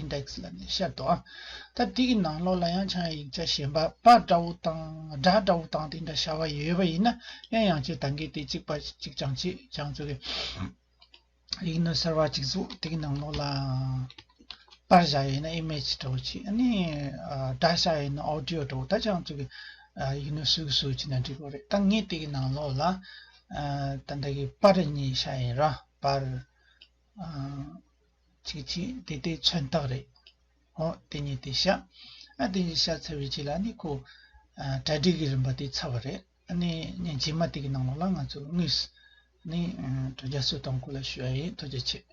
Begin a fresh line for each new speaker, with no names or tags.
Index། ལ་ནས་བཤད་དོ། ད་དེ་གི་ནང་ལོགས་ལ་ཡང་ཆང་ཡིག་ཆ་གཞན་པ་པ་འདྲ་བོ་དང་སྒྲ་འདྲ་བོ་དང་དེ་འདྲ་བྱ་བ་ཡོད་པ་ཡིན་ན་གླེང་ཡང་བྱེད་ད་གི་དེ་གཅིག་པ་གཅིག་ཀྱང་བྱེད་ཀྱང་བྱོ་གི། ཡིག་ནོར་གསར་བ་གཅིག་བཟོ་དེ་གི་ནང་ལོགས་ལ་པར་བཞག་ཡོད་ན Image འདྲ་བོ་བྱེད་ནི་སྒྲ་བཞག་ཡོད་ན Audio འདྲ་བོ་ད་ཀྱང་བྱོ་གི། ཡིག་ནོར་སུས་བཟོ་བྱེད་ན་འགྲིག་པ་རེད་ད་ངས་དེ་གི་ནང་ལོགས་ལ་ད་འདྲ་གི་པར་གཉིས་བཞག་ཡིན་ར་པར། ཅིག་ཅིག་དེ་ལྟའི་མཚོན་རྟགས་རེད། ཨོ། དེ་གཉིས་དེ་ཤ། ཨ་དེ་གཉིས་ཤ་ཚ་བའི་རྗེས་ལ་ནི་ཁོ། གྲ་སྒྲིག་གི་རིམ་པ་དེ་ཚར་བ་རེད། ཨ་ནི་ཉིན་རྗེས་མ་དེ་གི་ནང་ལོགས་ལ་ང་ཚོས་དངོས། ནི། དོ་རྒྱ་སུ་དང་གོ་ལ་ཞུ་ཡ་ཡིན་དོ་རྒྱ་བྱེད།